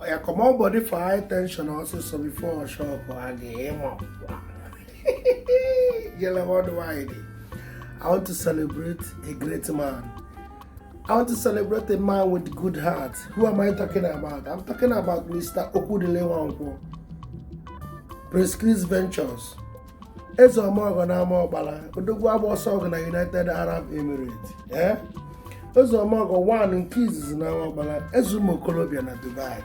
oya comot body for high tension also so before shock again yellow worldwide i want to celebrate a great man I want to celebrate a man with good heart. Who am I talking about? I'm talking about Mr. Okudile Wankwo. Prescription Ventures. eze ome ọgọ na amaọkpala odogwu agba ọsọ ọgụ na united arab emirates ee eze ome ọgọ wan nke izizi na amaọkpala eze ụmụ okorobịa na dubai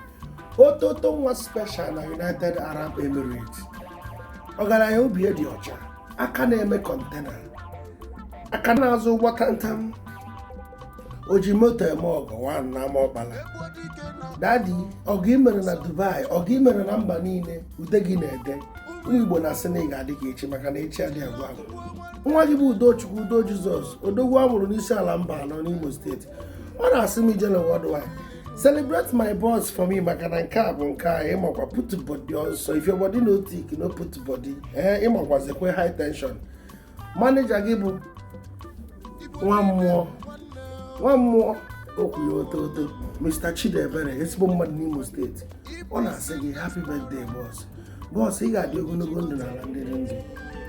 ototo nwa special na united arab emirates ọgaranya obi dị ọcha aka na-eme kọntena aka na-azụ ụgbọ tantam o ji moto eme ọgọ wan na amaọkpala dadi ọgọ i mere na dubai ọgọ i mere na mba niile ude gị na-ede ụmụ igbo na-asị na ị ga-adị ka echi maka na echi adị agwụ agwụ nwa gị bụ udochukwu udo jizọs odogwu a mụrụ n'isiala mbanọ n'imo steeti ọ na-asị m ijele worldwide celebrate my boss for me maka na nke a bụ nke a ịmakwa put body ọsọ if your body no thick no put body ee eh, ịmakwazikwa high tension maneja gị bụ nwa mmụọ okwu oto oto Mr. Chidiebere ezigbo mmadụ n'Imo steeti ọ na-asị gị happy birthday bọs bọs ị ga-adị ogologo ndụ n'ala ndị dị ndụ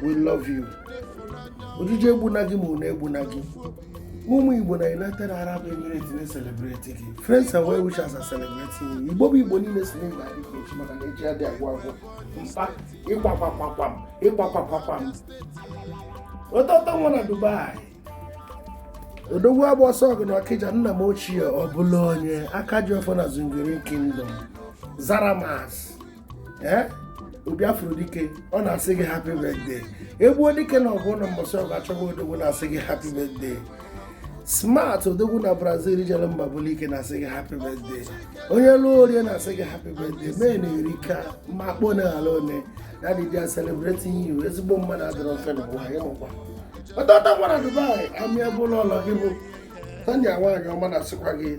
we love you ojije egbuna gị ma ụna egbuna gị ụmụ igbo na united arab emirates na-eselebreti gị friends and well wishers are celebrating you igbo bụ igbo niile sị na ị ga-adị ka echi maka na echi adị agwụ agwụ mkpa ịkwakwakwam ịkwakwakwam ototo nwa na Dubai odogwu agba ọsọ ọgụ na ọkịja nna m ochie ọbụla onye aka ji ọfọ na zungiri kingdom zara mas ee obi afro dike ọ na-asị gị happy birthday egbuo dike na ọgụ ụnọ mbọsị ọgụ achọba odogwu na-asị gị happy birthday smart odogwu na brazil jere mba bụlụ ike na-asị gị happy birthday onye lụọ o rie na-asị gị happy birthday mee na eri ka ma kpọ na ala one daddy they are celebrating you ezigbo mmadụ adịrọ mfe na ụwa ya nọkwa ototo nwa na dubai amịa bụlụ ụlọ gị bụ tanya nwaanyị ọma na-asịkwa gị